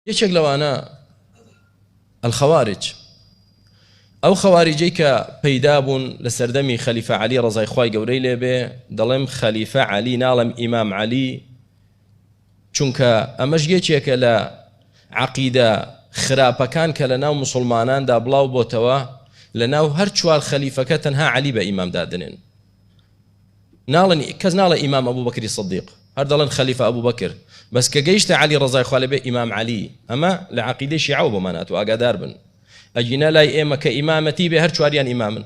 یەکێک لەوانە الخوارج ئەو خەواریجەی کە پەیدا بوون لە سەردەمی خەلیفە علی ڕزای خی گەورەی لێبێ دەڵێم خەلیفە علی ناڵم ئیمام علی چونکە ئەمەش یەکێکە لە عقیدە خراپەکان کە لە ناو مسلماناندا بڵاو بۆتەوە لە ناو هەر چوار خەلیفەکە تەنها علی بە ئیمام دادنێن ناڵێن کەس ناڵێ ئیمام ئەبو بەکری سدیق هەر دەڵێن خەلیفە ئەبو بەکر بەس کە گەیشتە علی ڕزای خوا لەبێ ئیمام علی ئەمە لە عقیدەی شیعەوە بۆمان هاتو ئاگادار بن ئەگینا لای ئێمە کە ئیمامەتی بێ هەر چواریان ئیمامن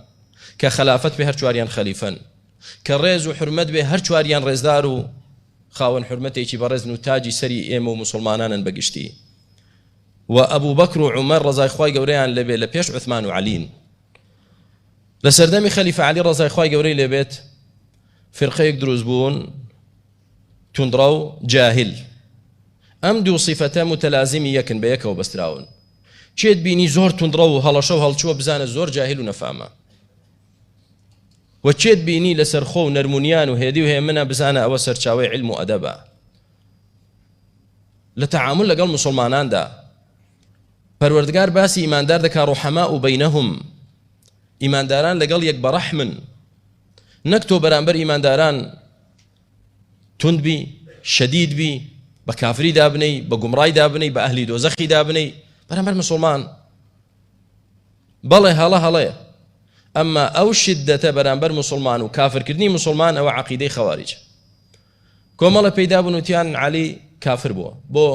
کە خلافەت بێ هەر چواریان خەلیفەن کە ڕێز و حرمەت بێ هەر چواریان ڕێزدار و خاوەن حرمەتێکی بەڕێزن و تاجی سەری ئێمە و مسلمانانن بەگشتی و ئەبوو بەکر و عمر ڕزای خی گەورەیان لەبێ لە پێش عثمان و علین لە سەردەمی خەلیفە عەلی ڕەزای خوای گەورەی لێبێت فرقەیەک دروست بوون توندڕەو جاهل ئەم دوو سیفەتە متەلازمی یەکن بە یەکەوە بەستراون چێت بینی زۆر توندڕە و هەڵەشە و هەڵچووە بزانە زۆر جاهل و نەفامە وەچێت بینی لەسەر خۆ و نەرمونیان و هێدی و هێمنە بزانە ئەوە سەرچاوی علم و ئەدەبە لە تەعامل لەگەڵ مسلماناندا پەروەردگار باسی ئیماندار دەکا رحماء بینهم ئیمانداران لەگەڵ یەک بەڕەحمن نەک تۆ بەرامبەر ئیمانداران توند بی شەدید بی بە کافری دابنەی بە گومڕای دابنەی بە ئەهلی دۆزەخی دابنەی بەرامبەر مسلمان بەڵێ هەڵە هەڵەیە ئەمما ئەو شدەتە بەرامبەر مسلمان و کافرکردنی مسلمان ئەوە عقیدەی خەواریج کۆمەڵە پێیدا بنوتیان علی کافر بووە بۆ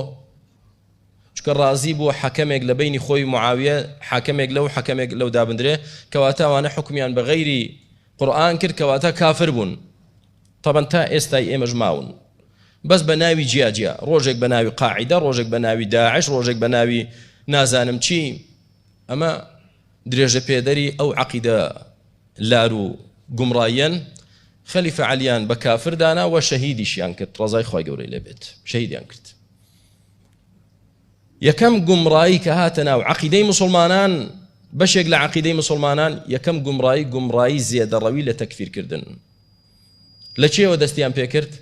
چونکە ڕازی بووە حەکەمێک لە بەینی خۆی و معاویە حاکەمێک لەو حەکەمێک لەو دابندرێ کەواتە ئەوانە حوکمیان بە غەیری قورئان کرد کەواتە کافر بوون تەبەن تا ئێستای ئێمەش ماون بەس بە ناوی جیا جیا ڕۆژێک بە ناوی قاعدە ڕۆژێک بە ناوی داعش ڕۆژێک بە ناوی نازانم چی ئەمە درێژە پێدەری ئەو عقیدە لار و گومڕایەن خەلیفە عەلیان بە کافر دانا و شەهیدیشیان کرد ڕزای خی گەورەی لەبێت شەهیدیان کرد یەکەم گومڕایی کە هاتە ناو عەقیدەی موسڵمانان بەشێک لە عەقیدەی موسڵمانان یەکەم گومڕایی گومڕایی زێدەڕەوی لە تەکفیرکردن لە چێوە دەستیان پێکرد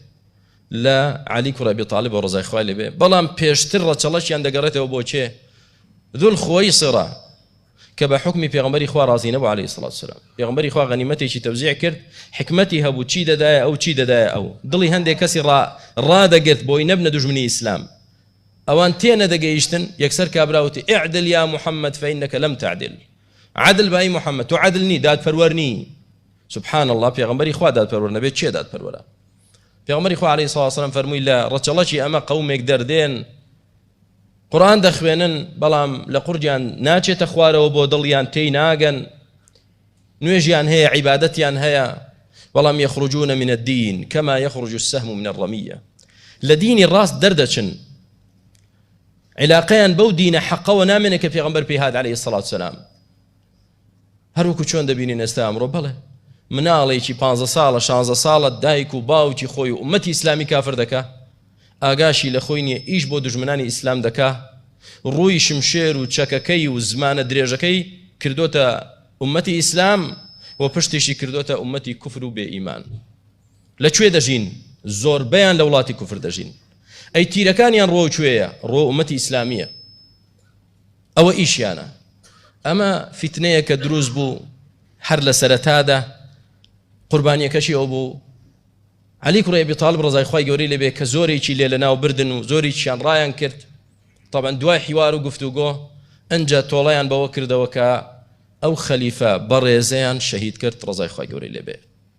لە علی کوڕە بێ تاالب بە ڕزای خوای لەبێ بەڵام پێشتر ڕەچەڵەشیان دەگەڕێتەوە بۆ چێ ذل خوەی سڕە کە بە حوکمی پێغەمبەری خوا ڕازی نەبوو علیە الصلوة والسلام پێغەمبەری خوا غەنیمەتێکی تەوزیع کرد حیکمەتی هەبوو چی دەدایە ئەو چی دەدایە ئەو دڵی هەندێک کەسی ڕا ڕادەگرت بۆی نەبنە دوژمنی ئیسلام ئەوان تێ نەدەگەیشتن یەکسەر کابراوتی اعدل یا محمد فإنك لم تعدل عدل بای محمد تو عدل نی دادپەروەر نی سبحان الله پێغەمبەری خوا دادپەروەر نەبێت چێ دادپەروەرە پێغەمبەری خوا علیه الصلاة والسلام فەرمووی لە ڕەچەڵەکی ئەمە قەومێک دەردێن قورئان دەخوێنن بەڵام لە قوڕگیان ناچێتە خوارەوە بۆ دڵ یان تێی ناگەن نوێژیان هەیە عیبادەتیان هەیە بەڵام یخرجون من الدین کما یخرج السهم من الرمیە لە دینی ڕاست دەردەچن علاقەیان بەو دینە حەقەوە نامێنێ کە پێغمبەر پێهات عليه الصلاة والسلام هەروەکو چۆن دەبینین ئێستا ئەمڕۆ بەڵێ مناڵێکی پانزە ساڵە شانزە ساڵە دایک و باوکی خۆی و ئومەتی ئیسلامی کافر دەکا ئاگاشی لە خۆی نییە ئیش بۆ دژمنانی ئیسلام دەکا ڕووی شمشێر و چەکەکەی و زمانە درێژەکەی کردوتە ئومەتی ئیسلام و پشتیشی کردوتە ئومەتی کوفر و بێ ئیمان لە کوێ دەژین زۆربەیان لە وڵاتی کوفر دەژین ئەی تیرەکانیان ڕۆ کوێیە ڕۆ ئومەتی ئیسلامیە ئەوە ئیشیانە ئەمە فیتنەیە کە دروست بوو هەر لە سەرەتادا قوربانیەکەشی ئەو بوو علی کوڕی ئەبی طالب ڕزای خی گەوری لەبێ کە زۆرێکی لێ لە ناو بردن و زۆریشیان ڕایان کرد طبعا دوای حیوار و گفتوگۆ ئەجا تۆڵیان بەوە کردەوە کە ئەو خەلیفە بەڕێزەیان شەهید کرد ڕزای خی گەوری لەبێ